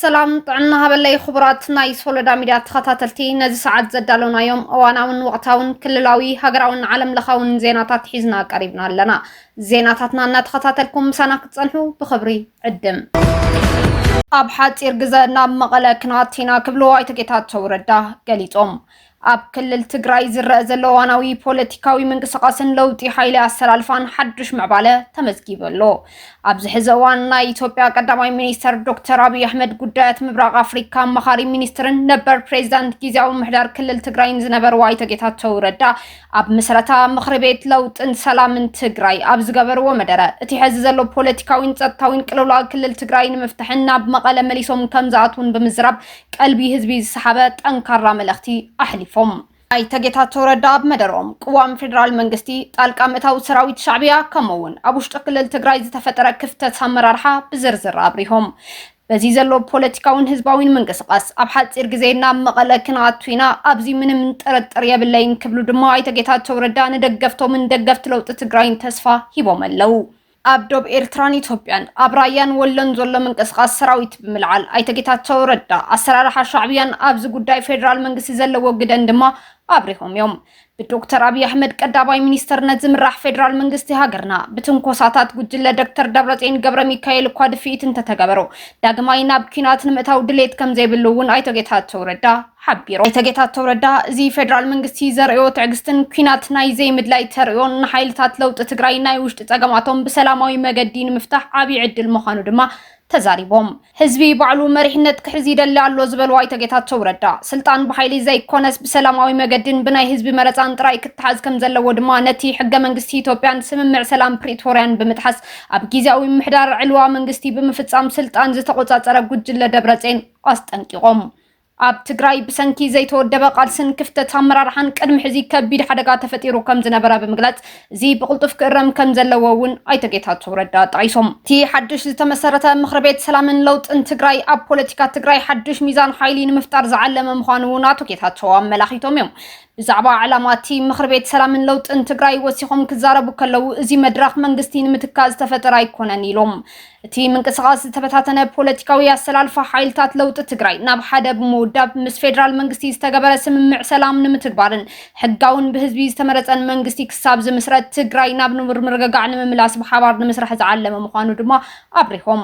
ሰላም ጥዕና ሃበለይ ክቡራት ናይ ሶሎዳ ሚድያ ተኸታተልቲ ነዚ ሰዓት ዘዳለናዮም እዋናውን ወቕታውን ክልላዊ ሃገራውን ዓለም ለኻውን ዜናታት ሒዝና ቀሪብና ኣለና ዜናታትና እናተኸታተልኩም ምሳና ክትፀንሑ ብኽብሪ ዕድም ኣብ ሓፂር ግዘ ናብ መቐለ ክናት ኢና ክብሉ ኣይተ ጌታቸው ረዳ ገሊፆም ኣብ ክልል ትግራይ ዝረአ ዘሎ እዋናዊ ፖለቲካዊ ምንቅስቓስን ለውጢ ሓይሊ ኣሰላልፋን ሓዱሽ ምዕባለ ተመዝጊቡ ኣሎ። ኣብዚ ሕዚ እዋን ናይ ኢትዮጵያ ቀዳማይ ሚኒስተር ዶክተር ኣብይ ኣሕመድ ጉዳያት ምብራቕ ኣፍሪካ ኣማኻሪ ሚኒስትርን ነበር ፕሬዚዳንት ጊዜያዊ ምሕዳር ክልል ትግራይን ዝነበሩ ኣይተ ጌታቸው ረዳ ኣብ ምስረታ ምኽሪ ቤት ለውጥን ሰላምን ትግራይ ኣብ ዝገበርዎ መደረ እቲ ሕዚ ዘሎ ፖለቲካዊን ጸጥታዊን ቅልውላው ክልል ትግራይ ንምፍታሕን ናብ መቐለ መሊሶም ከም ዝኣትውን ብምዝራብ ቀልቢ ህዝቢ ዝሰሓበ ጠንካራ መልእኽቲ ኣሕሊፎም። ኣይተ ጌታቸው ረዳ ኣብ መደረኦም፣ ቅዋም ፌደራል መንግስቲ፣ ጣልቃ ምእታው ሰራዊት ሻዕብያ ከምኡ እውን ኣብ ውሽጢ ክልል ትግራይ ዝተፈጠረ ክፍተት ኣመራርሓ ብዝርዝር ኣብሪሆም። በዚ ዘሎ ፖለቲካዊን ህዝባዊን ምንቅስቓስ ኣብ ሓፂር ግዜ ናብ መቐለ ክንኣቱ ኢና፣ ኣብዚ ምንም ጥርጥር የብለይን ክብሉ ድማ ኣይተ ጌታቸው ረዳ ንደገፍቶምን ደገፍቲ ለውጢ ትግራይን ተስፋ ሂቦም ኣለው። ኣብ ዶብ ኤርትራን ኢትዮጵያን ኣብ ራያን ወሎን ዘሎ ምንቅስቓስ ሰራዊት ብምልዓል ኣይተ ጌታቸው ረዳ ኣሰራርሓ ሻዕብያን ኣብዚ ጉዳይ ፌዴራል መንግስቲ ዘለዎ ግደን ድማ ኣብሪሆም እዮም። ብዶክተር ኣብይ ኣሕመድ ቀዳማይ ሚኒስተርነት ዝምራሕ ፌዴራል መንግስቲ ሃገርና ብትንኮሳታት ጉጅለ ዶክተር ደብረጽዮን ገብረ ሚካኤል እኳ ድፍኢት እንተተገበሮ ዳግማይ ናብ ኲናት ንምእታው ድሌት ከምዘይብሉ እውን ኣይተ ጌታቸው ረዳ ሓቢሩ። ኣይተ ጌታቸው ረዳ እዚ ፌዴራል መንግስቲ ዘርእዮ ትዕግስትን ኲናት ናይ ዘይምድላይ ተርእዮን ንሓይልታት ለውጢ ትግራይ ናይ ውሽጢ ፀገማቶም ብሰላማዊ መገዲ ንምፍታሕ ዓብዪ ዕድል ምዃኑ ድማ ተዛሪቦም። ህዝቢ ባዕሉ መሪሕነት ክሕዝ ይደሊ ኣሎ ዝበሉ ኣይተ ጌታቸው ረዳ፣ ስልጣን ብሓይሊ ዘይኮነስ ብሰላማዊ መገዲን ብናይ ህዝቢ መረፃን ጥራይ ክተሓዝ ከምዘለዎ ድማ ነቲ ሕገ መንግስቲ ኢትዮጵያን ስምምዕ ሰላም ፕሪቶርያን ብምጥሓስ ኣብ ጊዜያዊ ምምሕዳር ዕልዋ መንግስቲ ብምፍፃም ስልጣን ዝተቖፃፀረ ጉጅለ ደብረፅዮን ኣስጠንቂቖም። ኣብ ትግራይ ብሰንኪ ዘይተወደበ ቃልስን ክፍተት ኣመራርሓን ቅድሚ ሕዚ ከቢድ ሓደጋ ተፈጢሩ ከምዝነበረ ብምግላፅ፣ እዚ ብቕልጡፍ ክእረም ከምዘለዎ እውን ኣይተ ጌታቸው ረዳ ጠቒሶም። እቲ ሓዱሽ ዝተመሰረተ ምኽሪ ቤት ሰላምን ለውጥን ትግራይ ኣብ ፖለቲካ ትግራይ ሓዱሽ ሚዛን ሓይሊ ንምፍጣር ዝዓለመ ምዃኑ እውን ኣቶ ጌታቸው ኣመላኺቶም እዮም። ብዛዕባ ዕላማ'ቲ ምኽርቤት ሰላምን ለውጥን ትግራይ ወሲኾም ክዛረቡ ከለው እዚ መድረኽ መንግስቲ ንምትካእ ዝተፈጠረ ኣይኮነን ኢሎም። እቲ ምንቅስቓስ ዝተበታተነ ፖለቲካዊ ኣሰላልፋ ሓይልታት ለውጢ ትግራይ ናብ ሓደ ብምውዳብ ምስ ፌደራል መንግስቲ ዝተገበረ ስምምዕ ሰላም ንምትግባርን ሕጋውን ብህዝቢ ዝተመረፀን መንግስቲ ክሳብ ዝምስረት ትግራይ ናብ ንቡር ምርግጋዕ ንምምላስ ብሓባር ንምስራሕ ዝዓለመ ምዃኑ ድማ ኣብሪሆም።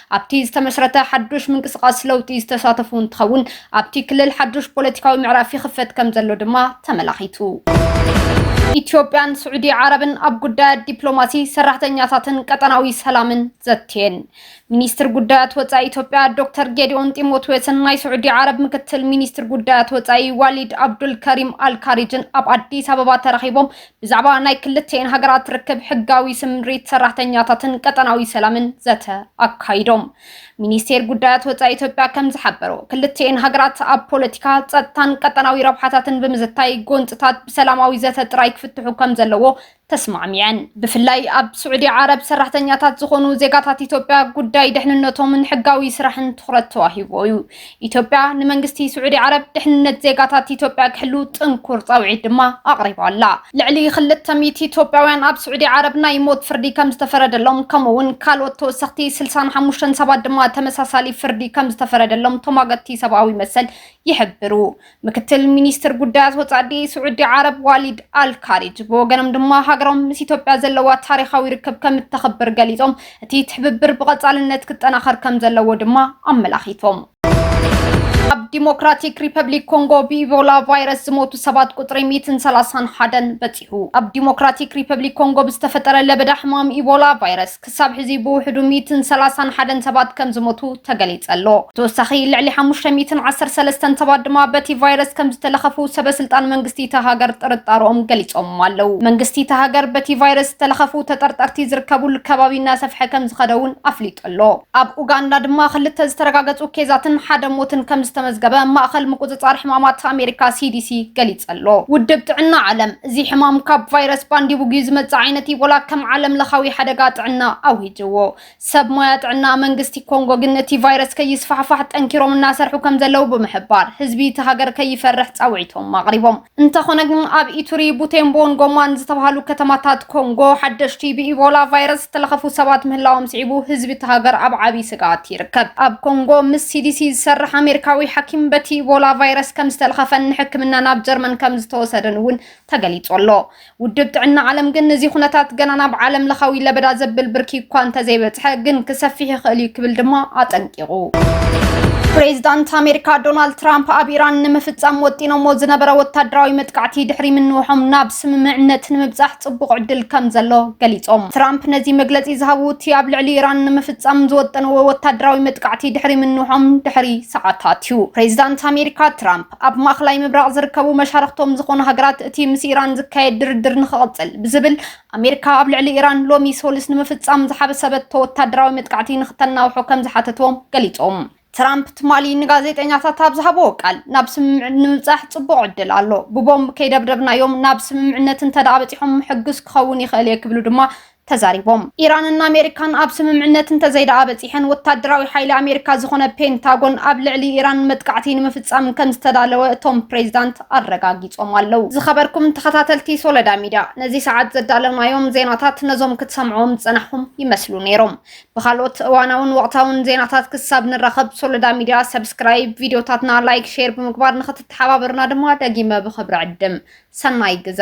ኣብቲ ዝተመስረተ ሓዱሽ ምንቅስቓስ ለውጢ ዝተሳተፉ እንትኸውን ኣብቲ ክልል ሓዱሽ ፖለቲካዊ ምዕራፍ ይኽፈት ከም ዘሎ ድማ ተመላኺቱ። ኢትዮጵያን ስዑዲ ዓረብን ኣብ ጉዳያት ዲፕሎማሲ፣ ሰራሕተኛታትን ቀጠናዊ ሰላምን ዘትየን። ሚኒስትር ጉዳያት ወፃኢ ኢትዮጵያ ዶክተር ጌዲኦን ጢሞቴዎስን ናይ ስዑዲ ዓረብ ምክትል ሚኒስትር ጉዳያት ወፃኢ ዋሊድ ኣብዱልከሪም ኣልካሪጅን ኣብ ኣዲስ ኣበባ ተራኺቦም ብዛዕባ ናይ ክልቲኤን ሃገራት ርክብ ሕጋዊ ስምሪት ሰራሕተኛታትን ቀጠናዊ ሰላምን ዘተ ኣካይዶም። ሚኒስቴር ጉዳያት ወፃኢ ኢትዮጵያ ከም ዝሓበሮ ክልቲኤን ሃገራት ኣብ ፖለቲካ፣ ፀጥታን ቀጠናዊ ረብሓታትን ብምዝታይ ጎንፅታት ብሰላማዊ ዘተ ጥራይ ክፍትሑ ከም ዘለዎ ተስማዕሚዐን። ብፍላይ ኣብ ስዑዲ ዓረብ ሰራሕተኛታት ዝኾኑ ዜጋታት ኢትዮጵያ ጉዳይ ደሕንነቶምን ሕጋዊ ስራሕን ትኹረት ተዋሂቡዎ እዩ። ኢትዮጵያ ንመንግስቲ ስዑዲ ዓረብ ድሕንነት ዜጋታት ኢትዮጵያ ክሕሉ ጥንኩር ጻውዒት ድማ ኣቕሪባ ኣላ። ልዕሊ ክልተ ሚእቲ ኢትዮጵያውያን ኣብ ስዑዲ ዓረብ ናይ ሞት ፍርዲ ከም ዝተፈረደሎም ከምኡ'ውን ካልኦት ተወሰኽቲ ስልሳን ሓሙሽተን ሰባት ድማ ተመሳሳሊ ፍርዲ ከም ዝተፈረደሎም ተሟገትቲ ሰብኣዊ መሰል ይሕብሩ። ምክትል ሚኒስትር ጉዳያት ወፃኢ ስዑዲ ዓረብ ዋሊድ ኣልካሪጅ ብወገኖም ድማ ሃገሮም ምስ ኢትዮጵያ ዘለዋ ታሪኻዊ ርክብ ከም እተኽብር ገሊፆም እቲ ትሕብብር ብቐፃልነት ክጠናኸር ከም ዘለዎ ድማ ኣመላኺቶም። ኣብ ዲሞክራቲክ ሪፐብሊክ ኮንጎ ብኢቦላ ቫይረስ ዝሞቱ ሰባት ቁፅሪ 131 በፂሑ። ኣብ ዲሞክራቲክ ሪፐብሊክ ኮንጎ ብዝተፈጠረ ለበዳ ሕማም ኢቦላ ቫይረስ ክሳብ ሕዚ ብውሕዱ ሚእትን ሰላሳን ሓደን ሰባት ከምዝሞቱ ተገሊጸ ኣሎ። ብተወሳኺ ልዕሊ ሓሙሽተ ሚእትን ዓሰርተ ሰለስተን ሰባት ድማ በቲ ቫይረስ ከምዝተለኸፉ ሰበ ስልጣን መንግስቲ እታ ሃገር ጥርጣረኦም ገሊጾም ኣለው። መንግስቲ እታ ሃገር በቲ ቫይረስ ዝተለኸፉ ተጠርጠርቲ ዝርከቡሉ ከባቢ እናሰፍሐ ከምዝኸደ'ውን ኣፍሊጡ ኣሎ። ኣብ ኡጋንዳ ድማ ክልተ ዝተረጋገጹ ኬዛትን ሓደ ሞትን ከምዝተመዝገበ ማእኸል ምቁጽጻር ሕማማት ኣሜሪካ፣ ሲዲሲ፣ ገሊጸ ኣሎ። ውድብ ጥዕና ዓለም፣ እዚ ሕማም ካብ ቫይረስ ባንዲቡግዩ ዝመጽእ ዓይነት ኢቦላ ከም ዓለም ለኻዊ ሓደጋ ጥዕና ኣዊጅዎ። ሰብ ሞያ ጥዕና መንግስቲ ኮንጎ ግን እቲ ቫይረስ ከይስፋሕፋሕ ጠንኪሮም እናሰርሑ ከምዘለው ብምሕባር ህዝቢ እቲ ሃገር ከይፈርሕ ጻውዒቶም ኣቕሪቦም። እንተኾነ ግን ኣብ ኢቱሪ፣ ቡቴምቦን ጎማን ዝተብሃሉ ከተማታት ኮንጎ ሓደሽቲ ብኢቦላ ቫይረስ ዝተለኸፉ ሰባት ምህላዎም ስዒቡ ህዝቢ እቲ ሃገር ኣብ ዓብይ ስግኣት ይርከብ። ኣብ ኮንጎ ምስ ሲዲሲ ዝሰርሕ ኣሜሪካዊ ሓኪም በቲ ኢቦላ ቫይረስ ከም ዝተልኸፈን ንሕክምና ናብ ጀርመን ከም ዝተወሰደን እውን ተገሊጹ ኣሎ። ውድብ ጥዕና ዓለም ግን እዚ ኩነታት ገና ናብ ዓለም ለኻዊ ለበዳ ዘብል ብርኪ እኳ እንተዘይበጽሐ ግን ክሰፊሕ ይኽእል እዩ ክብል ድማ ኣጠንቂቑ። ፕሬዚዳንት ኣሜሪካ ዶናልድ ትራምፕ ኣብ ኢራን ንምፍጻም ወጢኖሞ ዝነበረ ወታደራዊ መጥቃዕቲ ድሕሪ ምንውሖም ናብ ስምምዕነት ንምብጻሕ ጽቡቕ ዕድል ከም ዘሎ ገሊጾም። ትራምፕ ነዚ መግለጺ ዝሃቡ እቲ ኣብ ልዕሊ ኢራን ንምፍጻም ዝወጠንዎ ወታደራዊ መጥቃዕቲ ድሕሪ ምንውሖም ድሕሪ ሰዓታት እዩ። ፕሬዚዳንት ኣሜሪካ ትራምፕ ኣብ ማእኸላይ ምብራቕ ዝርከቡ መሻርኽቶም ዝኾኑ ሃገራት እቲ ምስ ኢራን ዝካየድ ድርድር ንክቕጽል ብዝብል ኣሜሪካ ኣብ ልዕሊ ኢራን ሎሚ ሰሉስ ንምፍጻም ዝሓሰበቶ ወታደራዊ መጥቃዕቲ ንክተናውሖ ከም ዝሓተትዎም ገሊጾም። ትራምፕ ትማሊ ንጋዜጠኛታት ኣብ ዝሃብዎ ቃል ናብ ስምምዕ ንምብጻሕ ጽቡቕ ዕድል ኣሎ፣ ብቦምብ ከይደብደብናዮም ናብ ስምምዕነት እንተደኣ በጺሖም ምሕጉስ ክኸውን ይኽእል እየ ክብሉ ድማ ተዛሪቦም። ኢራንን ኣሜሪካን ኣብ ስምምዕነት እንተዘይደኣ በጺሐን፣ ወታደራዊ ሓይሊ ኣሜሪካ ዝኾነ ፔንታጎን ኣብ ልዕሊ ኢራን መጥቃዕቲ ንምፍጻም ከምዝተዳለወ እቶም ፕሬዚዳንት ኣረጋጊጾም ኣለው። ዝኸበርኩም ተኸታተልቲ ሶለዳ ሚድያ፣ ነዚ ሰዓት ዘዳለናዮም ዜናታት ነዞም ክትሰምዕዎም ዝጸናሕኹም ይመስሉ ነይሮም። ብካልኦት እዋናውን ወቕታውን ዜናታት ክሳብ ንራኸብ ሶሎዳ ሚድያ ሰብስክራይብ፣ ቪድዮታትና ላይክ፣ ሼር ብምግባር ንክትተሓባበሩና ድማ ደጊመ ብኽብሪ ዕድም። ሰናይ ግዘ!